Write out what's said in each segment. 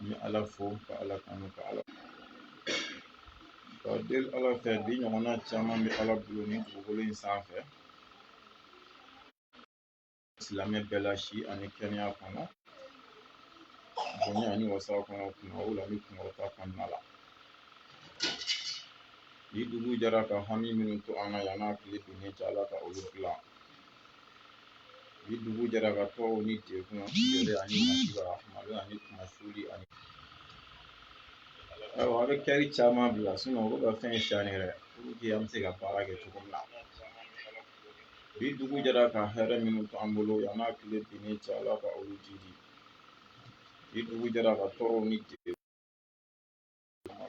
n bɛ ala fo ka ala tanu ka ala k'a deli ala fɛ bi ɲɔgɔnna caman bɛ ala bolo ni dugukolo in sanfɛ silamɛ bɛɛ la si ani kɛnɛya kɔnɔ bonya ni wasa kɔnɔ kunnawolo ni kunkɔrɔta kɔnɔna la bi dugu jɛra ka hami minnu to an na yan n'a tile binnen cɛ ala ka olu dilan Bi dugu jɛra ka tɔɔrɔw ni degun ani malo ani kunmasuli ani a bɛ kɛli caman bila olu ka fɛn cɛn yɛrɛ an bɛ se ka baara kɛ cogo min na bi dugu jɛra ka hɛrɛ minnu to an bolo yan n'a tile binnen cɛ ala ka olu jidi bi dugu jɛra ka tɔɔrɔw ni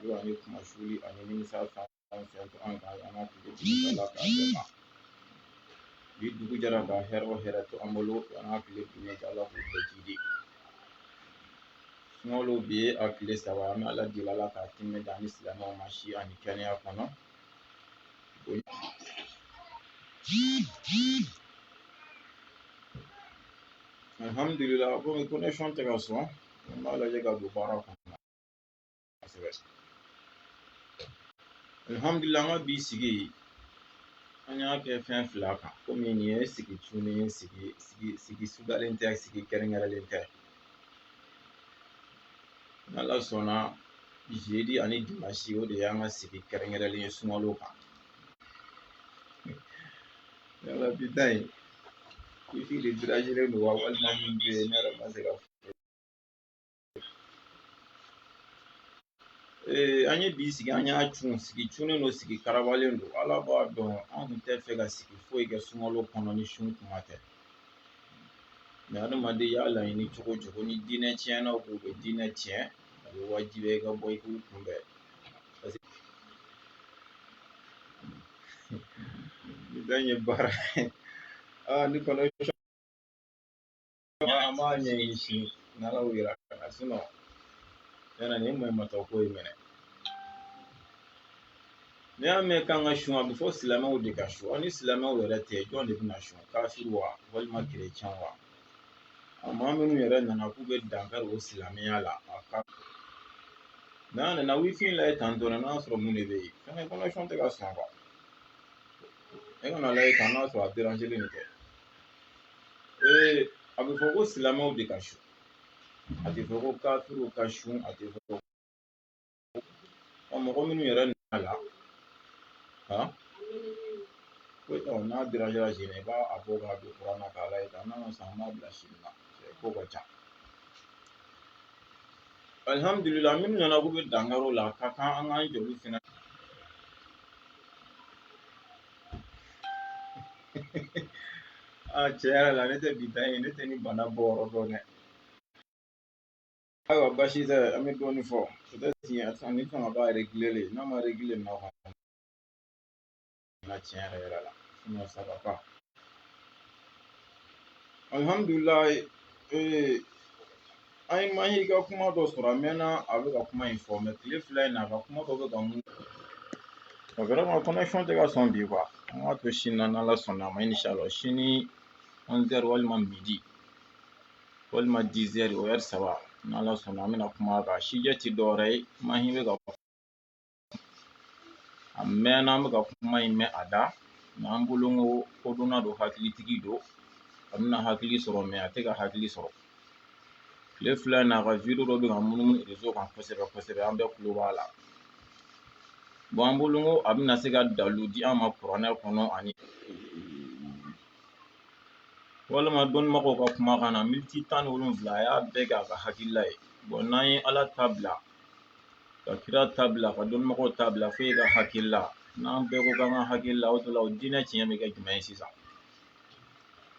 Malo ani kunmasuli ani nimisa fɛn o fɛn to an kan yan n'a tile binnen cɛ ala k'a bɛɛ ma bi dugu jɛra ka hɛrɛ o hɛrɛ to an bolo yan n'a tile binnen cɛ ala k'u bɛɛ jidi sunkalo bi ye a tile saba an bɛ ala deli ala k'a timɛ d'an ni silamɛw ma si ani kɛnɛya kɔnɔ alihamudulila komi connexion tɛ ka sɔn an b'a lajɛ ka don baara kɔnɔ kosɛbɛ alihamudulila an ka bi sigi an y'a kɛ fɛn fila kan komi nin ye sigi cunnen ye sigi sudalen tɛ sigi kɛrɛnkɛrɛnlen tɛ n'ala sɔnna jeudi ani dimanche o de y'an ka sigi kɛrɛnkɛrɛnlen ye sunkalo kan yala bi ta in wifi de dérangélen don wa walima min bɛ yen ne yɛrɛ ma se ka Ee an ye bi sigi an y'a cun sigi cunnen don sigi karabalen don ala b'a dɔn an kun tɛ fɛ ka sigi foyi kɛ sunkalo kɔnɔ ni sun kuma tɛ mɛ adamaden y'a laɲini cogo o cogo ni diinɛ tiɲɛnaw k'u bɛ diinɛ tiɲɛ a bɛ wajibiya i ka bɔ i k'u kunbɛn parce que ni bɛɛ ye baara ye aa ni kɔnɔ an b'a ɲɛɲini sini n'ala y'o yira ka sinɔ yala nin ma matɔ ko ye mɛnɛ n'i y'a mɛn k'an ka sun a bɛ fɔ silamɛw de ka sun ni silamɛw yɛrɛ tɛ jɔn de bɛna sun kafiri wa walima kerecɛn wa maa minnu yɛrɛ nana k'u bɛ dankari o silamɛya la a ka mɛ an nana wifi lajɛ tan dɔrɔn n'a sɔrɔ mun de bɛ yen fɛnɛ connexion tɛ ka sɔn e kana lajɛ tan n'a sɔrɔ a nin tɛ ee a bɛ fɔ ko silamɛw de ka sun a tɛ fɔ ko kafiriw ka sun a tɛ fɔ ko ɔ mɔgɔ minnu yɛrɛ nana la han ko ɔ n'a dérangera sini i b'a bɔ k'a don kuran na k'a lajɛ n'a ma sɔn an b'a bila sini na ko ka ca alihamudulila minnu nana k'u bɛ dankari o la a ka kan an k'an jɔ olu fɛnɛ tiɲɛ yɛrɛ la ne tɛ bi dan ye ne tɛ ni bana bɔ yɔrɔ dɔn dɛ ayiwa basi tɛ an bɛ dɔɔnin fɔ tiɲɛ ni fanga b'a réglé n'a ma réglé nɔ na tiɲɛ yɛrɛ yɛrɛ la sinɔn ça va pas alihamudulila ee An ye Mahi ka kuma dɔ sɔrɔ a mɛnna a bɛ ka kuma in fɔ mɛ tile fila in na a ka kuma dɔ bɛ ka mun o vraiment connexion tɛ ka sɔn bi kuwa an k'a to sini na n'ala sɔnna a ma inshalla sini ɔnzɛri walima midi walima dizɛri o ɛri saba n'ala sɔnna an bɛna kuma kan sijɛ ti dɔwɛrɛ ye Mahi bɛ ka a mɛnna an bɛ ka kuma in mɛn a da mɛ an bolo ko kodɔnna don hakilitigi don a bɛna hakili sɔrɔ mɛ a tɛ ka hakili sɔrɔ tile fila in na a ka video dɔ bɛ ka munumunu rezo kan kosɛbɛ kosɛbɛ an bɛɛ kulo b'a la bɔn an bolo ko a bɛna se ka dalu di an ma kuranɛ kɔnɔ ani walima dɔnnibagaw ka kumakan na militi tan ni wolonwula a y'a bɛɛ kɛ a ka hakilila ye bɔn n'an ye ala ta bila ka kira ta bila ka dɔnnibagaw ta bila fo e ka hakilila n'an bɛɛ ko k'an ka hakilila o la o diinɛ tiɲɛ bɛ kɛ jumɛn ye sisan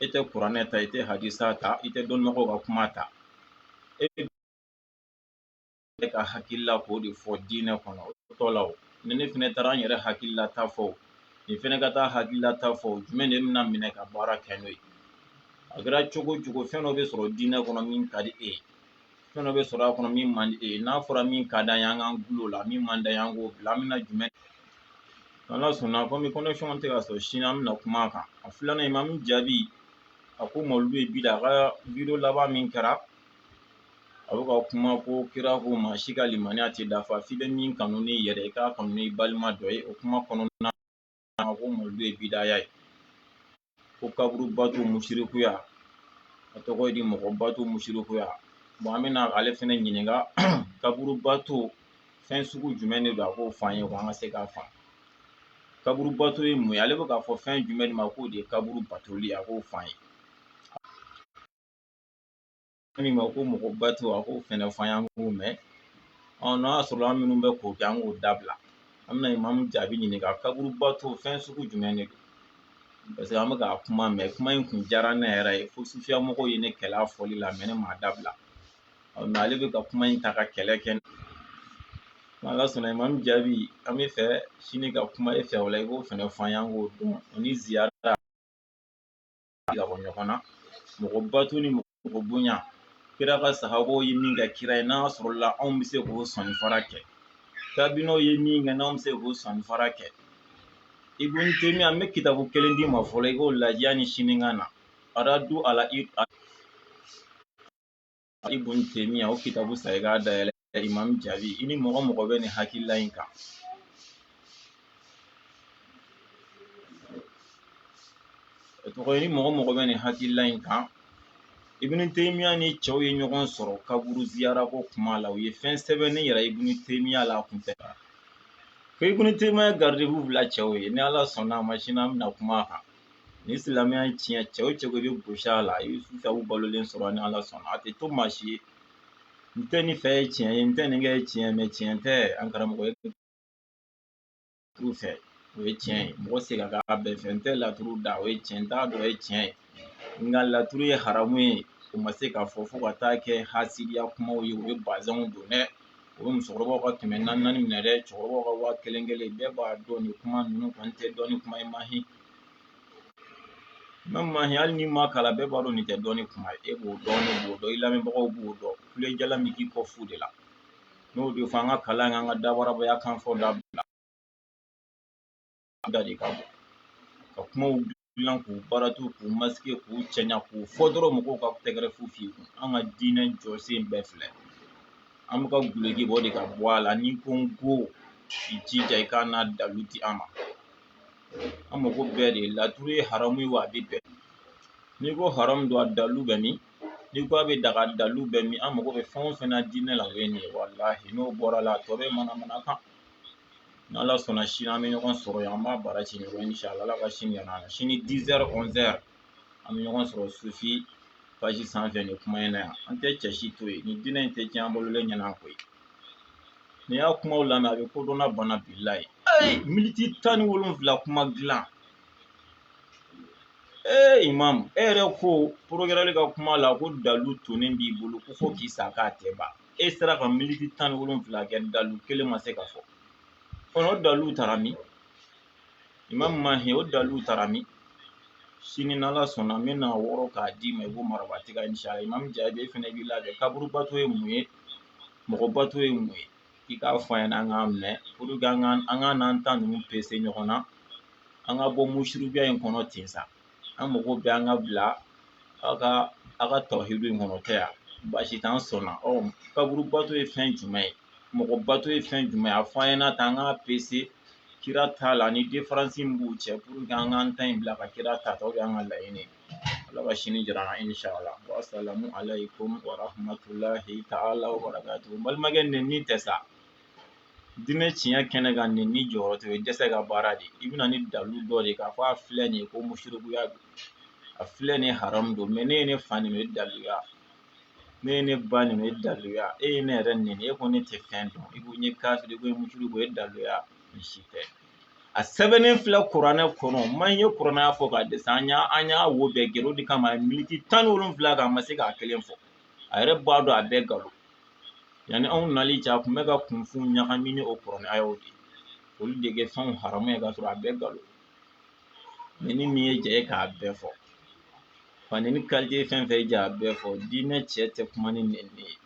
e tɛ kuranɛ ta i tɛ hadisa ta i tɛ dɔnnibagaw ka kuma ta e ka hakilila k'o de fɔ diinɛ kɔnɔ o tɔ la o ni ne fɛnɛ taara n yɛrɛ hakilila ta fɔ nin fɛnɛ ka t'a hakilila ta fɔ jumɛn de bɛna minɛ ka baara kɛ n'o ye a kɛra cogo o cogo fɛn dɔ bɛ sɔrɔ diinɛ kɔnɔ min ka di e ye fɛn dɔ bɛ sɔrɔ a kɔnɔ min man di e ye n'a fɔra min ka d'an ye an k'an gulon o la min man d'an ye an k'o bila an bɛna jumɛn n'ala sɔnna komi connexion tɛ ka sɔrɔ sini an bɛna kuma a kan a filanan in ma min jaabi a ko mawuludu ye bida a ka video laban min kɛra a bɛ ka kuma ko kira ko maa si ka limaniya tɛ dafa f'i bɛ min kanu n'i yɛrɛ ye i k'a kanu n'i balima dɔ ye o kuma kɔnɔna ko mawuludu ye bidaya ye ko kaburubato musirikuya a tɔgɔ ye di mɔgɔbato musirikuya bon an bɛna ale fɛnɛ ɲininka kaburubato fɛn sugu jumɛn de don a k'o f'an ye ko an ka se k'a faamu kaburubato ye mun ye ale bɛ k'a fɔ fɛn jumɛn de ma k'o de ye kaburu batoli ye a k'o f'an ye min ma ko mɔgɔ bato a k'o fɛnɛ fɔ an ye an k'o mɛn ɔ n'a y'a sɔrɔ an minnu bɛ k'o kɛ an k'o dabila an bɛna imamu jaabi ɲininka kaburu bato fɛn sugu jumɛn de don parce que an bɛ k'a kuma mɛn kuma in kun diyara ne yɛrɛ ye fo sufiya mɔgɔw ye ne kɛlɛ a fɔli la mɛ ne m'a dabila ɔ mɛ ale bɛ ka kuma in ta ka kɛlɛ kɛ ala sɔnna imamu jaabi an bɛ fɛ sini ka kuma e fɛ o la i b'o fɛnɛ fɔ an ye an k'o dɔn o ni ziyara ka bɔ ɲɔgɔn na mɔgɔ bato ni mɔgɔ bonya kira ka sahabaw ye min kɛ kira ye n'a sɔrɔla anw bɛ se k'o sɔnni fara kɛ tabiinaw ye min kɛ n'anw bɛ se k'o sɔnni fara kɛ ibn temiya an bɛ kitabu kelen d'i ma fɔlɔ i k'o lajɛ yanni sini ka na aradu ala i ibn temiya o kitabu san i k'a dayɛlɛ imam jaabi i ni mɔgɔ mɔgɔ bɛ nin hakilila in kan i ni mɔgɔ mɔgɔ bɛ nin hakilila in kan ibn temiya ni cɛw ye ɲɔgɔn sɔrɔ kaburu ziyara ko kuma la u ye fɛn sɛbɛnnen yira ibn temiya la kun tɛ ko ibn temiya garde-à-vous bila cɛw ye ni ala sɔnna a ma sini an bɛna kuma a kan ni silamɛya in tiɲɛ cɛ o cɛ ko i bɛ gosi a la i bɛ sufiyaw balolen sɔrɔ ni ala sɔnna a tɛ to maa si ye n tɛ nin fɛ ye tiɲɛ ye n tɛ nin kɛ ye tiɲɛ mɛ tiɲɛ tɛ an karamɔgɔ ye t'u fɛ o ye tiɲɛ ye mɔgɔ se ka k'a bɛɛ fɛ n tɛ laturu da o ye tiɲɛ n t'a dɔn o ye tiɲɛ ye nka laturu ye haramu ye o ma se k'a fɔ fo ka taa kɛ hasidiya kumaw ye u ye bazɛnw don dɛ u ye musokɔrɔbaw ka kɛmɛ naani naani minɛ dɛ cɛkɔrɔbaw ka waa kelen kelen bɛɛ b'a dɔn nin kuma ninnu kɔni tɛ dɔnni kuma ye mahi mɛ mahi hali n'i ma kalan bɛɛ b'a dɔn nin tɛ dɔnni kuma ye e b'o dɔn ne b'o dɔn i lamɛnbagaw b'o dɔn kule jalan min k'i kɔ fu de la n'o de fɔ an ka kalan kɛ an ka dabarabaya kan fɔ dabila da de ka bɔ ka kumaw dilan k'u baaratu k'u masike k'u cɛɲa k'u fɔ dɔrɔn mɔgɔw ka tɛgɛrɛ fu f'i kun an ka diinɛ jɔsen bɛɛ filɛ an bɛ ka guloki bɔ de ka bɔ a la n'i ko n ko i jija i k'a n'a dalu di an ma an mago bɛɛ de laturu ye haramu ye wa a bɛ bɛn n'i ko haramu don a dalu bɛ min n'i ko a bɛ daga dalu bɛ min an mago bɛ fɛn o fɛn na diinɛ la o ye nin ye walahi n'o bɔra la a tɔ bɛɛ manamana kan n'ala sɔnna sini an bɛ ɲɔgɔn sɔrɔ yan an b'a bara ci ɲɔgɔn inshallah ala ka sini yira an na sini dizɛri ɔnzɛri an bɛ ɲɔgɔn sɔrɔ sufi page sanfɛ nin kuma in na yan an tɛ cɛ si to yen nin diinɛ in tɛ tiɲɛ an balolen ɲɛna koyi n'i y'a kumaw lamɛn a bɛ kodɔnna bana bilahi ee miniti tan ni wolonfila kuma dilan ee imamu e yɛrɛ ko porogɛrɛli ka kuma la ko dalu tonnen b'i bolo ko fo k'i sa k'a tɛ ban e sera ka militi tan ni wolonfila kɛ dalu kelen ma se ka fɔ o dalu taara min imamu mahi o dalu taara min sini n'ala sɔnna n bɛna wɔɔrɔ k'a d'i ma i b'o marabatiga inshallah imamu jabi e fɛnɛ b'i labɛn kaburubato ye mun ye mɔgɔbato ye mun ye i k'a fɔ an ɲɛna an k'a mɛn pour que an k'an an k'an n'an ta ninnu pese ɲɔgɔn na an ka bɔ musirikuya in kɔnɔ ten sa an mago bɛ an ka bila aw ka aw ka tawhidu in kɔnɔ tɛ yan baasi t'an sɔnna ɔ kaburu bato ye fɛn jumɛn ye mɔgɔ bato ye fɛn jumɛn ye a fɔ an ɲɛna tan an k'a pese kira ta la ni différence min b'u cɛ pour que an k'an ta in bila ka kira ta ta o y'an ka laɲini ala ka sini jira an na inshallah wasalamu alaikum warahmatulahi ta'ala wabarakatuhu balimakɛ nɛnini tɛ sa Diinɛ tiɲɛ kɛnɛ kan nɛnini jɔyɔrɔ tɛ dɛsɛ ka baara de i bɛna ni dalu dɔ de k'a fɔ a filɛ nin ye ko musirikuya don a filɛ nin haramu don mɛ n'e ye ne fa nɛni o ye daluya n'e ye ne ba nɛni o ye daluya e ye ne yɛrɛ nɛni e ko ne tɛ fɛn dɔn i ko n ye kafiri i ko n ye musiriku o ye daluya nin si tɛ a sɛbɛnnen filɛ kuranɛ kɔnɔ m'an ye kuranɛ aya fɔ k'a dɛsɛ an y'a an y'a wo bɛɛ gɛrɛn o de kama militi tan ni wolonfila kan a ma se k'a kelen fɔ a yɛrɛ b'a dɔn a bɛɛ nkalon yanni anw nali cɛ a kun bɛ ka kunfinw ɲagami ni o kuranɛ ayaw de olu de kɛ fɛnw haramu ye k'a sɔrɔ a bɛɛ nkalon mɛ ni min ye jɛ ye k'a bɛɛ fɔ fani ni kalite fɛn fɛn ja a bɛɛ fɔ diinɛ cɛ tɛ kuma ni nɛnini ye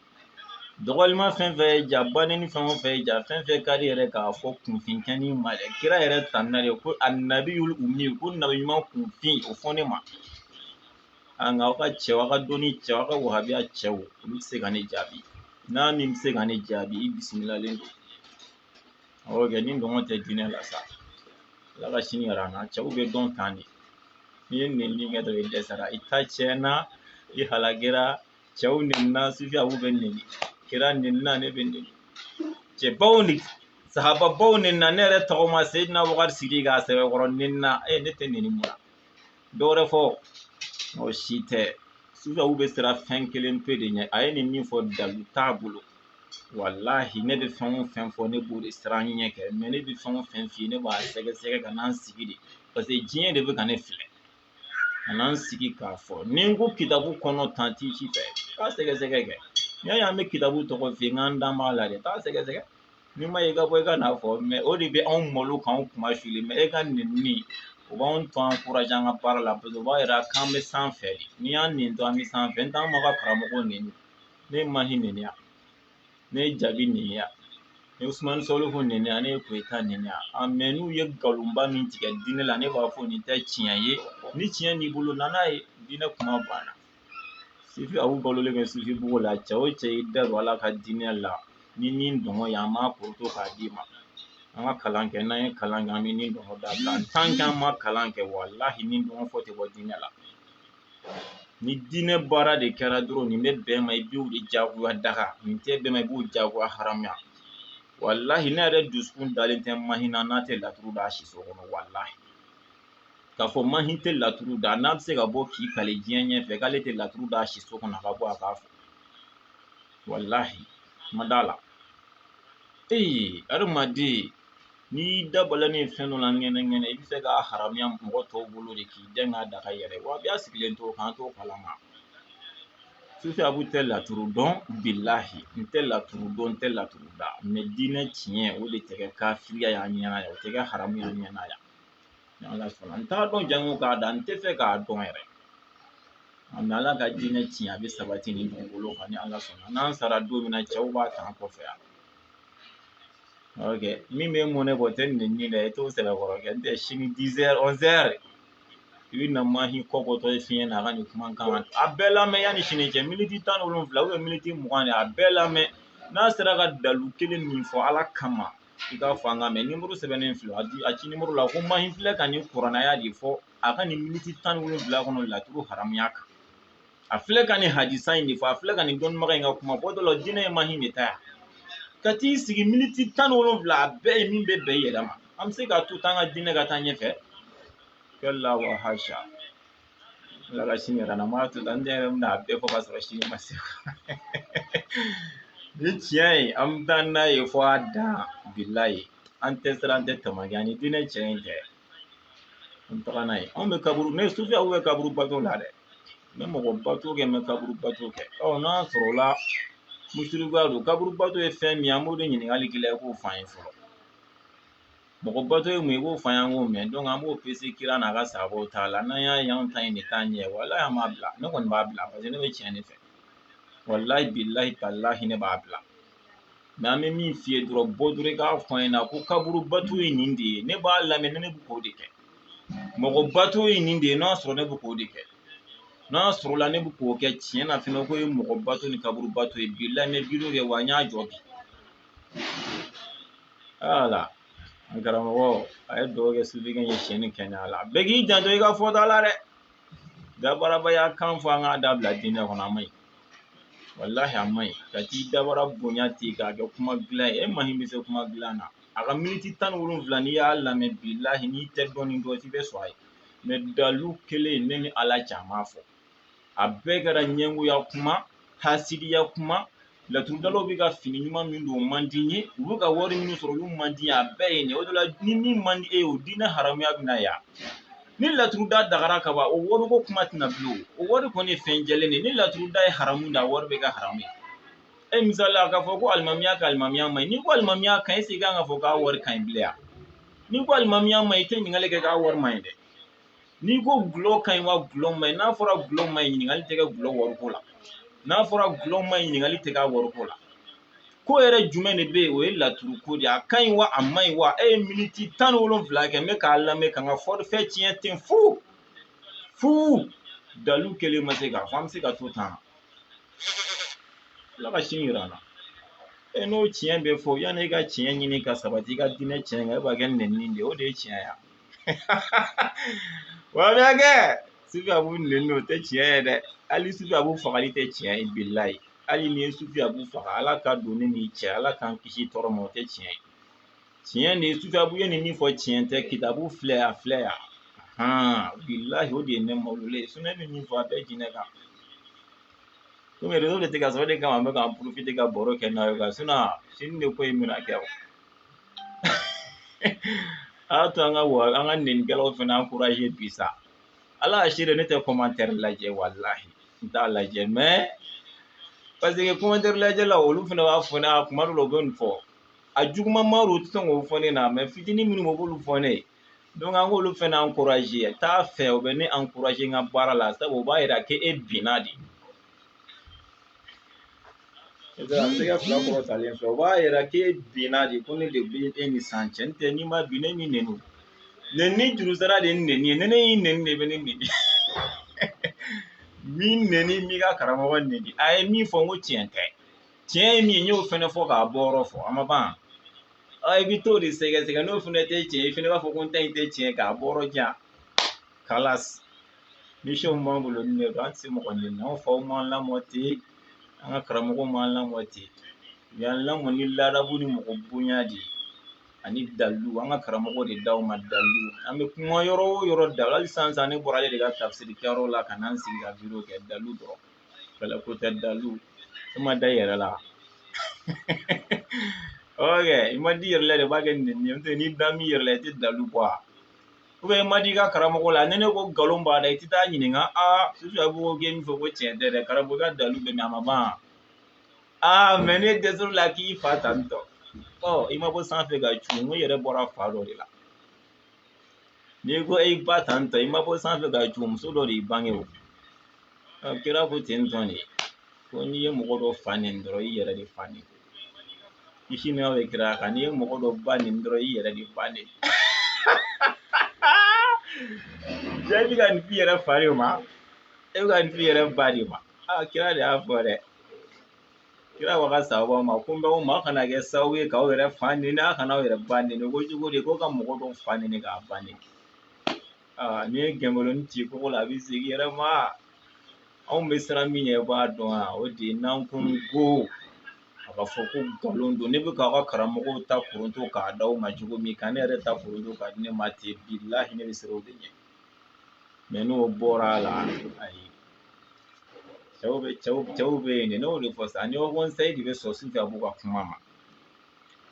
dɔgɔlima fɛn fɛn ye ja bannen ni fɛn o fɛn ye ja fɛn fɛn ka di yɛrɛ k'a fɔ kunfin kɛnin ma dɛ kira yɛrɛ tanuna de ko annabiyul ummi ko nabi ɲuman kunfin o fɔ ne ma a nka aw ka cɛw aw ka dɔnni cɛw aw ka wahabiya cɛw olu tɛ se ka ne jaabi n'a min bɛ se ka ne jaabi i bisimilalen don awɔ kɛ ni ngɔngɔ tɛ diinɛ la sa ala ka sini yira an na cɛw bɛ dɔn tan de n'i ye nɛnini kɛ dɔrɔn i dɛsɛra i ta tiɲɛna i halakera cɛw nɛnina sufiyaw bɛ nɛni kira nɛnina ne bɛ nɛni cɛbaw ni sahababaw nɛnina ne yɛrɛ tɔgɔma seyidina abubakari sidiki k'a sɛbɛkɔrɔ nɛnina e ne tɛ nɛni mun na dɔwɛrɛ fɔ o si tɛ sufiyaw bɛ siran fɛn kelen pe de ɲɛ a ye nin min fɔ dalu t'a bolo walahi ne bɛ fɛn o fɛn fɔ ne b'o de siran ɲɛ kɛ mɛ ne bɛ fɛn o fɛn f'i ye ne b'a sɛgɛsɛgɛ ka na n sigi de paseke diɲɛ de bɛ ka ne filɛ ka na n sigi k'a fɔ ni n ko kitabu kɔnɔ tan t'i si fɛ k'a sɛgɛsɛgɛ kɛ n'i y'a ye an bɛ kitabu tɔgɔ f'i ye n k'an dan b'a la dɛ taa sɛgɛsɛgɛ n'i m'a ye i ka bɔ i ka n'a fɔ mɛ o de bɛ anw malo k'anw kunmasuuli mɛ e ka nɛni o b'anw to an kuraja an ka baara la paseke o b'a yira k'an bɛ sanfɛ de n'i y'an nɛni to an bɛ sanfɛ n t'an m'a ka karamɔgɔw nɛni ne ye mahi nɛni yan ne ye jabi nɛni yan ne ye sumani sɔlifu nɛni yan ne ye koyita nɛni yan a mɛ n'u ye nkalonba min tigɛ diinɛ la ne b'a fɔ nin tɛ tiɲɛ ye ni tiɲɛ b'i bolo na n'a ye diinɛ kuma banna sufi abu balolen bɛ sufibugu la cɛ o cɛ i da don ala ka diinɛ la ni nin dɔngɔ ye an b'a koroto k'a d'i ma an ka kalan kɛ n'an ye kalan kɛ an bɛ nin dɔngɔ dabila tant que an ma kalan kɛ walahi nin dɔngɔ fɔ tɛ bɔ diinɛ la ni diinɛ baara de kɛra dɔrɔn nin bɛ bɛn ma i b'o de jagoya daga nin tɛ bɛn ma i b'o jagoya haramuya walahi ne yɛrɛ dusukun dalen tɛ mahi na n'a tɛ laturu da a siso kɔnɔ walahi k'a fɔ mahi tɛ laturu da n'a bɛ se ka bɔ k'i kali diɲɛ ɲɛfɛ k'ale tɛ laturu da a siso kɔnɔ a ka bɔ a k'a fɔ walahi n ma d'a la ee adamaden n'i y'i da balani fɛn dɔ la ŋɛnɛ ŋɛnɛ i bɛ se k'a haramuya mɔgɔ tɔw bolo de k'i dɛn k'a daga yɛrɛ wa a b'a sigilen to k'an t'o kalama sufi abu tɛ laturu dɔn bilahi n tɛ laturu dɔn n tɛ laturu da mɛ diinɛ tiɲɛ o de tɛ kɛ kafiriya y'an ɲɛna yan o tɛ kɛ haramu y'an ɲɛna yan ala sɔnna n t'a dɔn janko k'a da n t'a fɛ k'a dɔn yɛrɛ mɛ ala ka diinɛ tiɲɛ a bɛ sabati nin dugukolo kan ni ala sɔnna n'an sara don min na cɛw b'a ta an kɔfɛ yan Okay. Min bɛ mɔnɛ bɔ tɛ nɛnni dɛ i t'o sɛbɛkɔrɔ kɛ n tɛ sini dizɛri ɔnzɛri i bɛ na mahi kɔ bɔtɔ ye fiɲɛ na a ka nin kumakan a bɛɛ lamɛn yanni sini cɛ miniti tan ni wolonwula miniti mugan de a bɛɛ lamɛn n'a sera ka dalu kelen min fɔ ala kama i k'a fɔ an ka mɛ nimoro sɛbɛnnen filɛ a ci nimoro la ko mahi filɛ ka nin kuran aya de fɔ a ka nin miniti tan ni wolonwula kɔnɔ laturu haramuya kan a filɛ ka nin hadisa in de fɔ a filɛ ka nin dɔnnibaga in ka kuma fɔ dɔ la diinɛ ye mahi de ta yan ka t'i sigi miniti tan ni wolonwula a bɛɛ ye min bɛ bɛn i yɛrɛ ma an bɛ se k'a to tan ka diinɛ ka taa ɲɛfɛ kɛ la wa hasha Ala ka sini yir'an na n m'a to tan n yɛrɛ bɛna a bɛɛ fɔ ka sɔrɔ sini ma se ni tiɲɛ ye an bɛ taa n'a ye fɔ a dan bilahi an tɛ siran an tɛ tamaki ani diinɛ tiɲɛ in tɛ an bɛ taga n'a ye anw bɛ kaburu ne sufiyaw bɛ kaburu bato la dɛ n bɛ mɔgɔ bato kɛ n bɛ kaburu bato kɛ ɔ n'a sɔrɔla musirikuya don kaburu bato ye fɛn min ye an b'o de ɲininkali k'i la i k'o f'an ye fɔlɔ Mɔgɔ bato ye mun ye i b'o f'an ye an k'o mɛn donc an b'o pese kira n'a ka sahabaw ta la n'an y'a ye anw ta in de t'a ɲɛ walahi an b'a bila ne kɔni b'a bila parce que ne bɛ tiɲɛ de fɛ walahi bilahi talahi ne b'a bila mɛ an bɛ min f'i ye dɔrɔn bɔ dɔrɔn i k'a fɔ an ɲɛna ko kaburu bato ye nin de ye ne b'a lamɛn ne bɛ k'o de kɛ mɔgɔ bato ye nin de ye n'a sɔrɔ ne bɛ k'o de kɛ n'a sɔrɔla ne bɛ k'o kɛ tiɲɛ na fɛnɛ k'o ye mɔgɔ bato ni kaburu bato ye bilahi n bɛ video kɛ wa n y'a jɔ bi wala an karamɔgɔ a ye dugawu kɛ sufikɛ ye si jan ni kɛnɛya la bɛɛ k'i janto i ka fɔta la dɛ dabarabaya kan fɔ an k'a dabila diinɛ kɔnɔ a man ɲi walahi a man ɲi ka t'i dabara bonya ten k'a kɛ kuma dilan ye e mahi bɛ se kuma dilan na a ka miniti tan ni wolonwula n'i y'a lamɛn bilahi n'i tɛ dɔɔnin dɔn i bɛ sɔn a ye mɛ dalu kelen ne ni ala cɛ a m'a fɔ a bɛɛ kɛra ɲɛngoya kuma hasidiya kuma laturudalaw bɛ ka fini ɲuman min don o man di n ye u bɛ ka wari min sɔrɔ olu man di n ye a bɛɛ ye nin ye o de la ni min man di e ye o diinɛ haramuya bɛ na yan ni laturuda dagara ka ban o wariko kuma tɛ na bilen o wari kɔni ye fɛn jɛlen de ye ni laturuda ye haramu d'a wari bɛ kɛ haramu ye e misali la k'a fɔ ko alimamiya ka alimamiya man ɲi n'i ko alimamiya ka ɲi e kan k'a fɔ k'a wari ka ɲi bilen yan n'i ko alimamiya man ɲi i tɛ ɲininkali kɛ k'a wari man ɲi dɛ n'i ko gulɔ ka ɲi wa gulɔ man ɲi n'a fɔra gulɔ man ɲi ɲininkali tɛ kɛ gulɔ wariko la n'a fɔra gulɔ man ɲi ɲininkali tɛ k'a wariko la ko yɛrɛ jumɛn de bɛ yen o ye laturu ko de ye a ka ɲi wa a man ɲi wa e ye miniti tan ni wolonfila kɛ n bɛ k'a lamɛn ka n ka fɔrifɛ tiɲɛ ten fu fu dalu kelen ma se ka fɔ an bɛ se ka to tan ala ka sini jira an na e n'o tiɲɛ bɛ fɔ yanni e ka tiɲɛ ɲini ka sabati i ka diinɛ tiɲɛ kan e b'a kɛ nɛni de ye o de ye tiɲɛ ye wa bɛ kɛ sufi abu nɛni o tɛ tiɲɛ ye dɛ hali sufi abu fagali tɛ tiɲɛ ye bilahi hali n'i ye sufi abu faga ala ka don ne n'i cɛ ala k'an kisi tɔɔrɔ ma o tɛ tiɲɛ ye tiɲɛ de ye sufi abu ye nin min fɔ tiɲɛ tɛ kitabu filɛ a filɛ yan bilahi o de ye ne mawulen ye ne bɛ min fɔ a bɛɛ diinɛ kan komi rezo de tɛ ka sɔrɔ o de kama an bɛ k'an ka baro kɛ n'a ye ka sini de ko in bɛna kɛ o a y'a to an k'an ka nɛnikɛlaw fana ankuraje bi sa ala y'a seere ne tɛ kɔmantɛri lajɛ walahi n t'a lajɛ mɛ paseke kɔmantɛri lajɛla olu fana b'a fɔ ne a kuma dɔw la u bɛ nin fɔ a juguman ma u tɛ sɔn k'o fɔ ne na mɛ fitinin minnu bɛ u b'olu fɔ ne ye donc an k'olu fana ankuraje t'a fɛ u bɛ ne ankuraje n ka baara la sabu o b'a yira k'e binna de I taara senkala fila kɔrɔtalen san fɛ o b'a yira k'e binna de ko ne de bɛ e ni san cɛ n tɛ n'i ma bin ne m'i nɛni nɛni juru sara de ye nɛni ye ni ne y'i nɛni de bɛ ne nɛni n m'i nɛni n m'i ka karamɔgɔ nɛni a ye min fɔ n ko tiɲɛ tɛ tiɲɛ ye min ye n y'o fana fɔ k'a bɔyɔrɔ fɔ a ma ban i bɛ t'o de sɛgɛsɛgɛ n'o fana tɛ tiɲɛ i fana b'a fɔ ko n ta in tɛ tiɲɛ k'a bɔ yɔrɔ jan kalas misiyɔn b'an bolo ni ne don an tɛ se mɔgɔ nɛni anw faw m'an lamɔ ten an ka karamɔgɔw m'an lamɔ ten u y'an lamɔ ni ladabu ni mɔgɔ bonya de ye ani dalilu an ka karamɔgɔ de d'aw ma dalilu an bɛ kuma yɔrɔ o yɔrɔ dalilu hali sisan sisan ne bɔra ale de ka tafsiri kɛyɔrɔ la ka na n sigi ka video kɛ dalilu dɔrɔn kɛlɛ ko tɛ dalilu e ma da i yɛrɛ la ok i ma da i yɛrɛ la de i b'a kɛ nɛni ye n'o tɛ n'i dalen b'i yɛrɛ la i tɛ dalilu bɔ a u bɛ ma di i ka karamɔgɔ la ni ne ko nkalon b'a la i tɛ taa ɲininka aa sufi abu k'e min fɔ ko tiɲɛ tɛ dɛ karamɔgɔ i ka dalu bɛ min a ma ban aa mɛ ne dɛsɛr'o la k'i fa tantɔ ɔ i ma bɔ sanfɛ ka cu n ko i yɛrɛ bɔra fa dɔ de la n'i ko i ba tantɔ i ma bɔ sanfɛ ka cu muso dɔ de y'i bange o kira ko ten tɔ de ko n'i ye mɔgɔ dɔ fa nɛni dɔrɔn i yɛrɛ de fa nɛni Kisi ni nɛma bɛ kira kan n'i ye mɔgɔ dɔ ba nɛni dɔrɔn i yɛrɛ de ba nɛni jaa i bɛ ka nin f'i yɛrɛ fa de ma e bɛ ka nin f'i yɛrɛ ba de ma aa kira de y'a fɔ dɛ kira ko a ka sabaw ma ko n bɛ o ma kana kɛ sababu ye k'aw yɛrɛ fa nɛni a kana aw yɛrɛ ba nɛni ko cogo di ko ka mɔgɔ dɔ fa nɛni k'a ba nɛni aa n'i ye gɛnkolon ci kogo la a bɛ segin i yɛrɛ ma anw bɛ siran min ɲɛ i b'a dɔn yan o de ye n'an ko ko a ka fɔ ko nkalon don ne bɛ k'aw ka karamɔgɔw ta koronto k'a d'aw ma cogo min ka ne yɛrɛ ta koronto k'a di ne ma ten bilahi ne bɛ siran o de ɲɛ mɛ n'o bɔra a la ayi cɛw bɛ cɛw cɛw bɛ yen de ne y'o de fɔ sa ni haut conseil de bɛ sɔn sufi abu ka kuma ma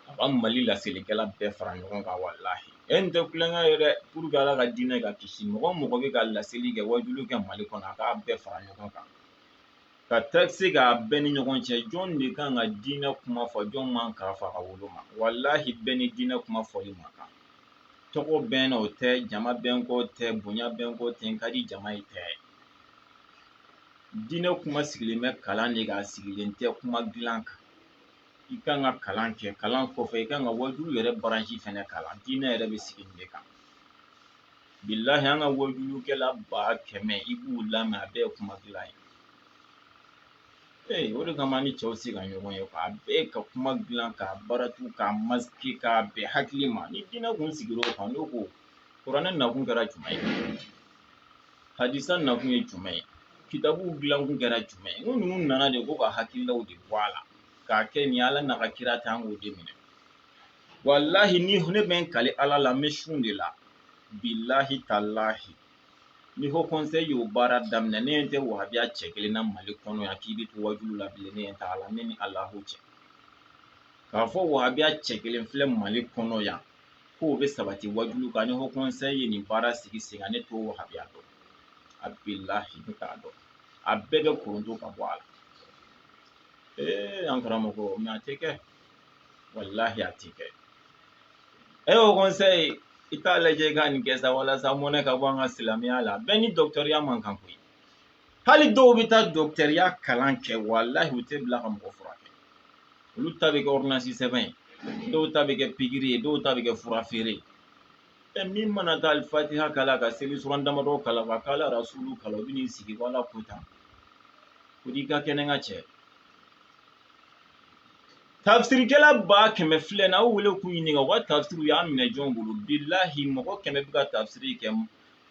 a ka mali laselikɛla bɛɛ fara ɲɔgɔn kan walahi e nin tɛ tulonkɛ ye dɛ pour que ala ka diinɛ ka kisi mɔgɔ mɔgɔ bɛ ka laseli kɛ wajulu kɛ mali kɔnɔ a k'a bɛɛ fara ɲɔgɔn kan ka taasi k'a bɛɛ ni ɲɔgɔn cɛ jɔn de kan ka diinɛ kuma fɔ jɔn man kan k'a fɔ a ka woloma walahi bɛɛ ni diinɛ kuma fɔli man kan tɔgɔ bɛ n na o tɛ jama bɛ n kɔ tɛ bonya bɛ n kɔ tɛ n ka di jama ye tɛ diinɛ kuma sigilen bɛ kalan de kan a sigilen tɛ kuma dilan kan i kan ka kalan kɛ kalan kɔfɛ i kan ka wajulu yɛrɛ baransi fɛnɛ kalan diinɛ yɛrɛ bɛ sigi nin de kan bilahi an ka wajulukɛla ba kɛmɛ i b'u lamɛn a bɛɛ ye kuma dilan ye ee o de kama ni cɛw se ka ɲɔgɔn ye a bɛɛ ka kuma dilan k'a baratu k'a masike k'a bɛn hakili ma ni diinɛ kun sigira o kan n ko kuranɛ nakun kɛra jumɛn ye hadisa nakun ye jumɛn ye kitabuw dilankun kɛra jumɛn ye n ko ninnu nana de ko ka hakililaw de bɔ a la k'a kɛ nin ala n'a ka kira ta an k'o de minɛ walahi ni ne bɛ n kali ala la n bɛ sun de la bilahi talahi ni haut conseil y'o baara daminɛ ne ɲɛ tɛ wahabiya cɛ kelen na mali kɔnɔ yan k'i bɛ to wajulu la bilen ne ɲɛ t'a la ne ni alahu cɛ k'a fɔ wahabiya cɛ kelen filɛ mali kɔnɔ yan k'o bɛ sabati wajulu kan ni haut conseil ye nin baara sigi sen kan ne t'o wahabiya dɔn a bilahi ne t'a dɔn a bɛɛ bɛ koronto ka bɔ a la ee an karamɔgɔ mɛ a tɛ kɛ walahi a tɛ kɛ e haut conseil i t'a lajɛ i ka nin kɛ sa walasa mɔnɛ ka bɔ an ka silamɛya la bɛɛ ni dɔgɔtɔrɔya man kan koyi hali dɔw bɛ taa dɔgɔtɔrɔya kalan kɛ walahi u tɛ bila ka mɔgɔ furakɛ olu ta bɛ kɛ ɔridɔnansi sɛbɛn ye dɔw ta bɛ kɛ pikiri ye dɔw ta bɛ kɛ fura feere ye ɛ min mana taa alifatiha kalan ka seli suran damadɔ kalan ka kaala rasulu kalan u bɛ n'i sigi ko ala ko tan ko n'i ka kɛnɛ ka cɛ tafsirikɛla ba kɛmɛ filɛ na aw wele k'u ɲininka u ka tafsiri u y'a minɛ jɔn bolo bilahi mɔgɔ kɛmɛ bɛ ka tafsiri kɛ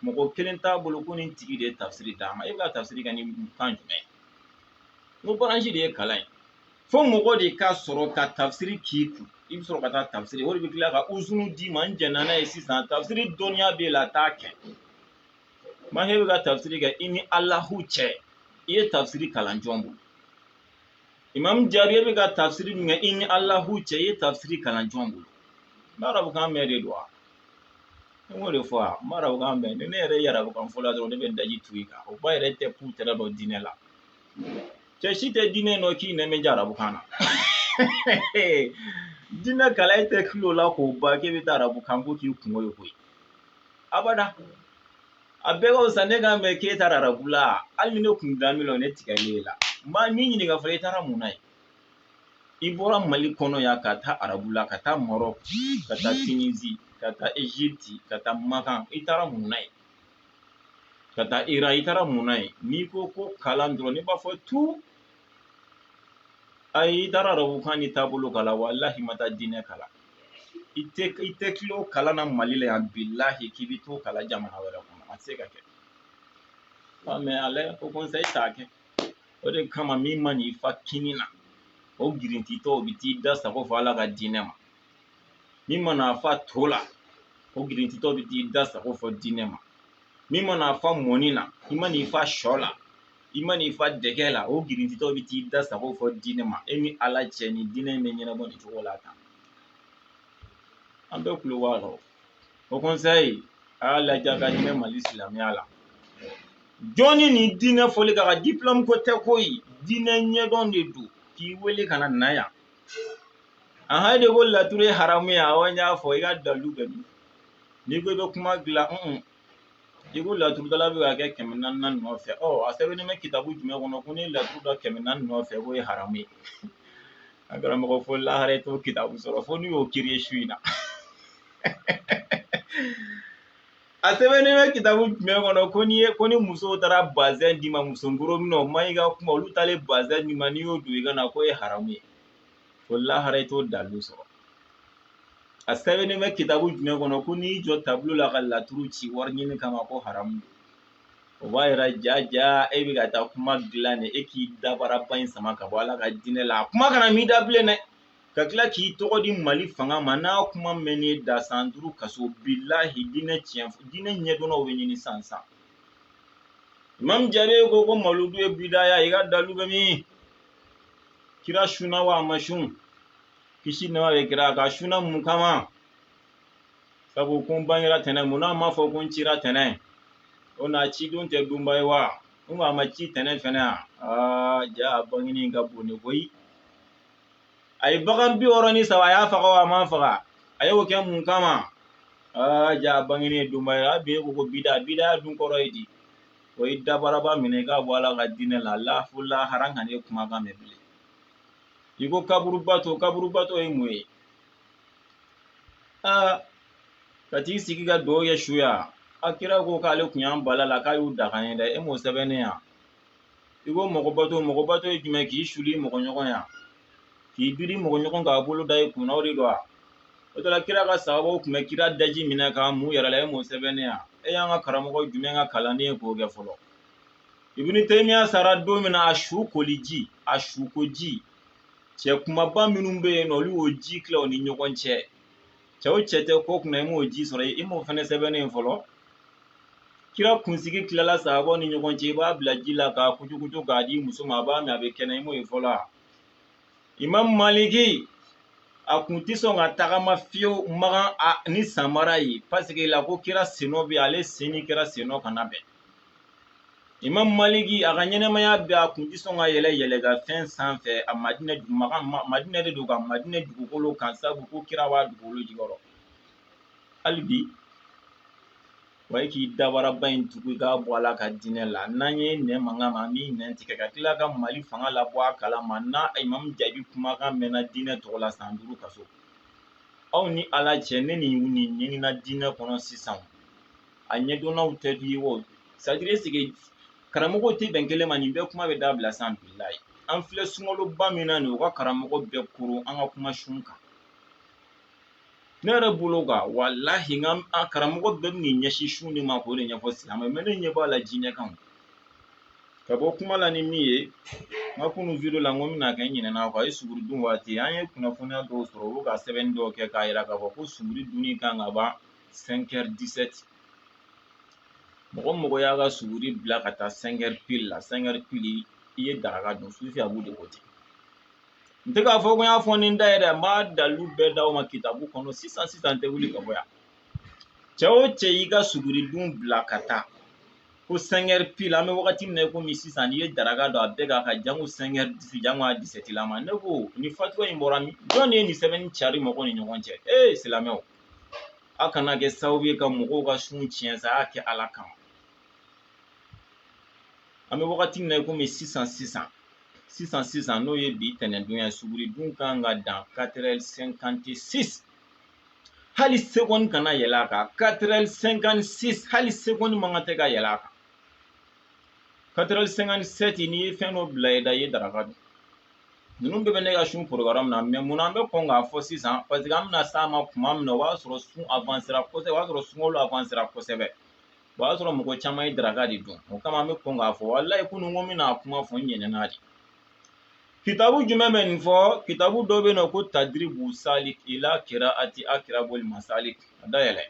mɔgɔ kelen t'a bolo ko nin tigi de ye tafsiri d'a ma e bɛ ka tafsiri kɛ ni kan jumɛn ye n ko baransi de ye kalan ye fo mɔgɔ de ka sɔrɔ ka tafsiri k'i kun i bɛ sɔrɔ ka taa tafsiri o de bɛ tila ka uzunu d'i ma n jɛnna n'a ye sisan tafsiri dɔnniya b'e la taa kɛ mɛ e bɛ ka tafsiri kɛ i ni alahu cɛ i ye tafsiri kalan jɔn bolo imamu jaabi e bɛ ka tafsiri min kɛ i ni alahu cɛ i ye tafsiri kalan jɔn bolo n b'arabu kan mɛn de don wa I k'o de fɔ wa n b'arabu kan mɛn ni ne yɛrɛ ye arabu kan fɔla dɔrɔn ne bɛ daji tu i kan o ba yɛrɛ tɛ k'u tɛrɛ dɔn diinɛ la cɛ si tɛ diinɛ dɔn k'i nɛmɛ ja arabu kan na diinɛ kalan e tɛ kilo la k'o ban k'e bɛ taa arabu kan ko k'i kungo ye koyi abada a bɛɛ ka fisa ne kan mɛn k'e taara arabu la hali ni ne kun da min na ne tigɛlen e la n bɛ n'i ɲininka fɔlɔ e taara mun na yen i bɔra mali kɔnɔ yan ka taa arabula ka taa marɔku ka taa tinizi ka taa egypte ka taa makan i taara mun na yen ka taa iran i taara mun na yen n'i ko ko kalan dɔrɔn ne b'a fɔ tu ayi i taara arabu kan ni taabolo kalan walahi i ma taa diinɛ kalan i tɛ kilo kalan na mali la yan bilahi k'i bɛ t'o kalan jamana wɛrɛ kɔnɔ a tɛ se ka kɛ mɛ ala ko kɔnsa i t'a kɛ o de kama min man'i fa kini na o girintitɔ o bɛ t'i da sago fɔ ala ka diinɛ ma min mana fa to la o girintitɔ bɛ t'i da sago fɔ diinɛ ma min mana fa mɔni na i man'i fa sɔ la i man'i fa dɛgɛ la o girintitɔ bɛ t'i da sago fɔ diinɛ ma e ni ala cɛ ni diinɛ in bɛ ɲɛnabɔ nin cogo la tan an bɛɛ kulo b'a la o kɔnsayi a y'a lajɛ ka hinɛ mali silamɛya la jɔnni ni diinɛ fɔli ka kan diplɔmu ko tɛ koyi diinɛ ɲɛdɔn de don k'i wele ka na na yan a ha de ko laturu ye haramu ye awɔ n y'a fɔ i ka dalu bɛ min n'i ko i bɛ kuma dilan i ko laturudala bɛ ka kɛ kɛmɛ naani nɔfɛ ɔ a sɛbɛnnen bɛ kitabu jumɛn kɔnɔ ko n'i ye laturu da kɛmɛ naani nɔfɛ k'o ye haramu ye a karamɔgɔ fo lahara i t'o kitabu sɔrɔ fo n'i y'o kereye su in na a sɛbɛnnen bɛ kitabu jumɛn kɔnɔ ko n'i ye ko ni musow taara bazɛn d'i ma muso nkoro minɛ o man ɲi ka kuma olu taalen bazɛn d'i ma n'i y'o don i ka na k'o ye haramu ye fo lahara i t'o dalu sɔrɔ a sɛbɛnnen bɛ kitabu jumɛn kɔnɔ ko n'i y'i jɔ tabulo la ka laturu ci wari ɲini kama ko haramu don o b'a yira ja ja e bɛ ka taa kuma dilan de e k'i dabaraba in sama ka bɔ ala ka diinɛ la a kuma kana mɛn i da bilen dɛ ka tila k'i tɔgɔ di mali fanga ma n'a kuma mɛnn'i da san duuru kaso bilahi diinɛ tiɲɛ diinɛ ɲɛdɔnnaw bɛ ɲini san san imam jaabi ko ko maludu ye bidaya i ka dalu bɛ min kira sunna wa a ma sun kisi nɛɛma bɛ kira kan sunna mun kama sabu ko n bangera tɛnɛn mun n'a ma fɔ ko n cira tɛnɛn o na ci don tɛ donba ye wa n ko a ma ci tɛnɛn fɛnɛ a aa ja a bangeni ka bon ne koyi a ye bagan bi wɔɔrɔ ni saba a y'a faga wa a ma faga a y'o kɛ mun kama aa ja a bangeni ye donba ye a bɛ ko ko bida bida dun kɔrɔ ye di o ye dabaraba minɛ k'a bɔ ala ka diinɛ la fo lahara an kan'e kumakan mɛn bilen i ko kaburubato kaburubato ye mun ye aa ka t'i sigi ka dugawu kɛ su ye wa kira ko k'ale kun y'an bali a la k'a y'u daga an ye dɛ e m'o sɛbɛnnen ye wa i ko mɔgɔbato mɔgɔbato ye jumɛn k'i suli mɔgɔ ɲɔgɔn ye wa k'i biri mɔgɔ ɲɔgɔn k'a bolo da i kunna o de don wa o tɔ la kira ka sahabaw tun bɛ kira daji minɛ k'a mun u yɛrɛ la e m'o sɛbɛnnen ye wa e y'an ka karamɔgɔ jumɛn ka kalanden ye k'o kɛ fɔlɔ ibini temiya sara don min na a sukoliji a sukoji cɛ kunbaba minnu bɛ yen nɔ olu y'o ji tila u ni ɲɔgɔn cɛ cɛw cɛ tɛ ko kunna i m'o ji sɔrɔ i m'o fɛnɛ sɛbɛnnen ye fɔlɔ kira kunsigi tilala sahabaw ni ɲɔgɔn cɛ i b'a bila ji la k'a kucukucu k'a di muso ma a b'a min a bɛ kɛnɛ i m'o ye fɔlɔ a imam maliki a kun tɛ sɔn ka tagama fiyewu makan ni samara ye paseke la ko kira sennɔ bɛ ale sen ni kira sennɔ kana bɛn imam maliki a ka ɲɛnamaya bɛɛ a kun tɛ sɔn ka yɛlɛn yɛlɛnkanfɛn sanfɛ a madinɛ madinɛ de don ka madinɛ dugukolo kan sabu ko kira b'a dugukolo jukɔrɔ hali bi wa i k'i dabaraba in tugu i k'a bɔ ala ka diinɛ la n'an y'i nɛn mankan mɛn an b'i nɛn tigɛ ka tila ka mali fanga labɔ a kalama n'a imam jaabi kumakan mɛnna diinɛ tɔgɔ la san duuru kaso aw ni ala cɛ ne ni nin ɲinina diinɛ kɔnɔ sisan a ɲɛdɔnnaw tɛ di ye o sadire ɛsike karamɔgɔw tɛ bɛn kelen ma nin bɛɛ kuma bɛ dabila sa bilahi an filɛ sunkaloba min na nin u ka karamɔgɔ bɛɛ koron an ka kuma sun kan ne yɛrɛ bolo kan walahi n ka karamɔgɔ bɛɛ bɛ nin ɲɛsin sun de ma k'o de ɲɛfɔ silamɛ mɛ ne ɲɛ b'a la diinɛ kan ka bɔ kuma la ni min ye n ka kunu video la n ko n bɛna kɛ n ɲinɛna a kɔ a ye suguri dun waati an ye kunnafoniya dɔw sɔrɔ u bɛ ka sɛbɛnni dɔw kɛ k'a jira k'a fɔ ko suguri dunni kan ka ban 5h17 mɔgɔ mɔgɔ y'a ka suguri bila ka taa 5h pile la 5h pile i ye daraka dun sufi abu de ko ten n tɛ k'a fɔ ko n y'a fɔ ni n da ye dɛ n b'a dalilu bɛɛ d'aw ma kitabu kɔnɔ sisan sisan n tɛ wuli ka bɔ yan cɛ o cɛ y'i ka suguri dun bila ka taa ko 5h pile an bɛ wagati min na komi sisan n'i ye daraka dun a bɛɛ k'a ka jango 5h disi jango a disɛti lama ne ko nin fatuwa in bɔra min jɔn de ye nin sɛbɛnni cari mɔgɔw ni ɲɔgɔn cɛ ee silamɛw aw kana kɛ sababu ye ka mɔgɔw ka sun tiɲɛ sa a y'a kɛ ala kama an bɛ wagati min na i komi sisan sisan sisan sisan n'o ye bi tɛnɛndon ye suguridun kan ka dan katerɛli sɛnkante sisi hali sekɔni kana yɛlɛ a kan katerɛli sɛnkante sisi hali sekɔni man kan tɛ ka yɛlɛ a kan katerɛli sɛnkante sɛti n'i ye fɛn dɔ bila i da i ye daraka dun ninnu bɛɛ bɛ ne ka sun porogaramu na mɛ mun an bɛ kɔn k'a fɔ sisan paseke an bɛna s'a ma tuma min na o b'a sɔrɔ sun avansera kosɛbɛ o b'a sɔrɔ sunkalo avansera kosɛbɛ o b'a sɔrɔ mɔgɔ caman ye daraka de dun o kama an bɛ kɔn k'a fɔ walayi kunun ko n bɛna kuma fɔ n ɲinɛna de kitabu jumɛn bɛ nin fɔ kitabu dɔ bɛ yen nɔ ko tadiribu salik ila kiraati akirabuli masalik a dayɛlɛ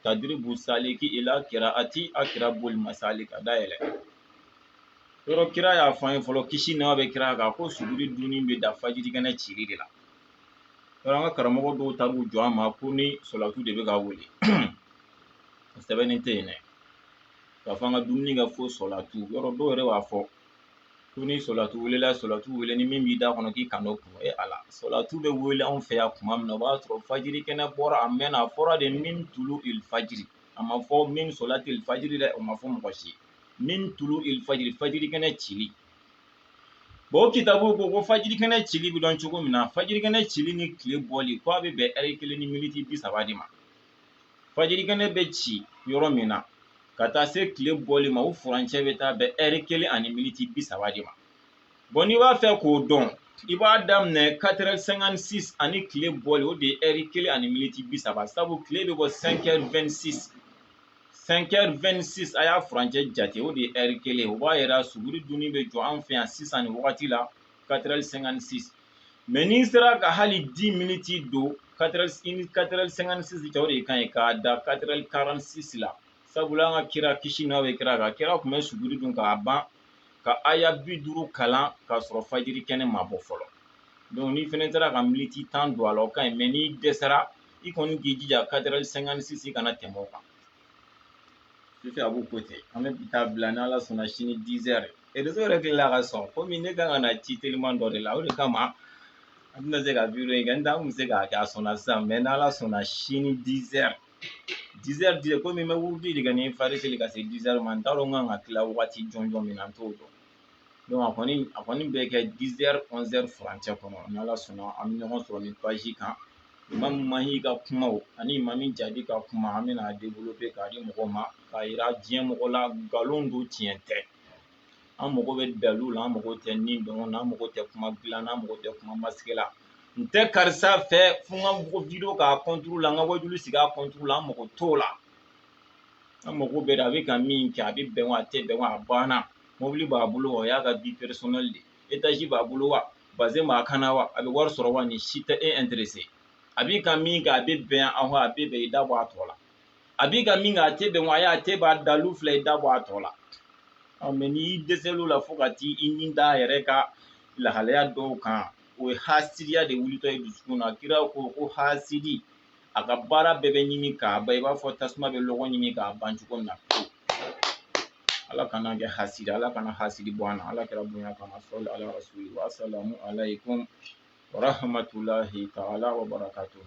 tadiribu saliki ila kiraati akirabuli masalik a dayɛlɛ yɔrɔ kira y'a fɔ an ye fɔlɔ kisi nɛma bɛ kira kan ko suguri dunni bɛ dan fajiri kɛnɛ cili de la yɔrɔ an ka karamɔgɔ dɔw taar'u jɔ an ma ko ni sɔlatu de bɛ ka wele sɛbɛnni tɛ yen dɛ k'a fɔ an ka dumuni kɛ fo sɔlatu yɔrɔ dɔw yɛrɛ b'a fɔ ko ni sɔlatu welela sɔlatu wele ni min b'i da kɔnɔ k'i kan'o kunu e ala sɔlatu bɛ wele anw fɛ yan tuma min na o b'a sɔrɔ fajiri kɛnɛ bɔra a mɛnna a fɔra de min tulu il fajiri a ma fɔ min sɔlatu il fajiri dɛ o ma fɔ mɔgɔ si min tulu il fajiri fajiri kɛnɛ cili o kitabu ko ko fajiri kɛnɛ cili bɛ dɔn cogo min na fajiri kɛnɛ cili ni tile bɔli ko a bɛ bɛn ɛri kelen ni miniti bi saba de ma fajirikɛnɛ bɛ ci yɔrɔ min na ka taa se tile bɔli ma o furancɛ bɛ taa bɛn ɛri kelen ani militi bi saba de ma bɔn n'i b'a fɛ k'o dɔn i b'a daminɛ katerɛ sɛnkan sis ani tile bɔli o de ye ɛri kelen ani militi bi saba sabu tile bɛ bɔ sɛnkɛri wɛn sis sɛnkɛri wɛn sis a y'a furancɛ jate o de ye ɛri kelen o b'a yira suguri dunni bɛ jɔ an fɛ yan sisan nin wagati la katerɛ sɛnkan sis mɛ n'i sera ka hali di miniti don katerɛli sɛnkan sis cɛ o de ka ɲi k'a dan katerɛli karanti sis la sabula an ka kira kisi nɛma bɛ kira kan kira tun bɛ suguri dun k'a ban ka aya bi duuru kalan k'a sɔrɔ fajiri kɛnɛ ma bɔ fɔlɔ dɔnku n'i fana sera ka miniti tan don a la o ka ɲi mɛ n'i dɛsɛra i kɔni k'i jija katerɛli sɛnkan sis i kana tɛmɛ o kan Sufi a b'u ko ten an bɛ bi ta bila ni ala sɔnna sini dizɛri réseau yɛrɛ tilala ka sɔn komi ne kan ka na ci teliman dɔ de la o de kama an tɛna se ka video in kɛ n tɛ an tun bɛ se k'a kɛ a sɔnna sisan mais n'ala sɔnna sini dizɛri dizɛri dize komi n bɛ wurudi de kɛ ni fajiri seli ka se dizɛri ma n t'a dɔn n kan ka tila wagati jɔnjɔn min na n t'o dɔn Donc a kɔni bɛ kɛ 10 heures 11 heures furancɛ kɔnɔ ni Ala sɔnna an bɛ ɲɔgɔn sɔrɔ nin page kan Imam Mahi ka kumaw ani Imam Jaabi ka kuma an bɛna a développer k'a di mɔgɔw ma k'a jira diɲɛ mɔgɔ la nkalon don tiɲɛ tɛ an mago bɛ dalilu la an mago tɛ ni dɔngɔ na an mago tɛ kuma dilan na an mago tɛ kuma masigi la n tɛ karisa fɛ fo n ka bɔ video k'a contre la n ka wajulu sigi a contre la an mago t'o la an mago bɛ a bɛ ka min kɛ a bɛ bɛn wa a tɛ bɛn wa a banna mobili b'a bolo wa o y'a ka vie personnelle de etaji b'a bolo wa bazin b'a kan na wa a bɛ wari sɔrɔ wa nin si tɛ e intéressé a bi ka min kɛ a bɛ bɛn awɔ a bɛ bɛn i da bɔ a tɔ la a bi ka min kɛ a tɛ bɛn wa ayi a tɛ bɛn a dalu filɛ i da bɔ a tɔ la mais n'i dɛsɛl'o la fo ka t'i ni da a yɛrɛ ka lahalaya dɔw kan o ye hasidiya de wulitɔ ye dusukun na kira ko ko hasidi a ka baara bɛɛ bɛ ɲimi k'a ban i b'a fɔ tasuma bɛ lɔgɔ ɲimi k'a ban cogo min na ala kan'an kɛ hasidi ala kana hasidi bɔ an na ala kira bonya kama sɔli ala rasuli wa salamu alaykum wa rahmatulahi taala wa barakatuhu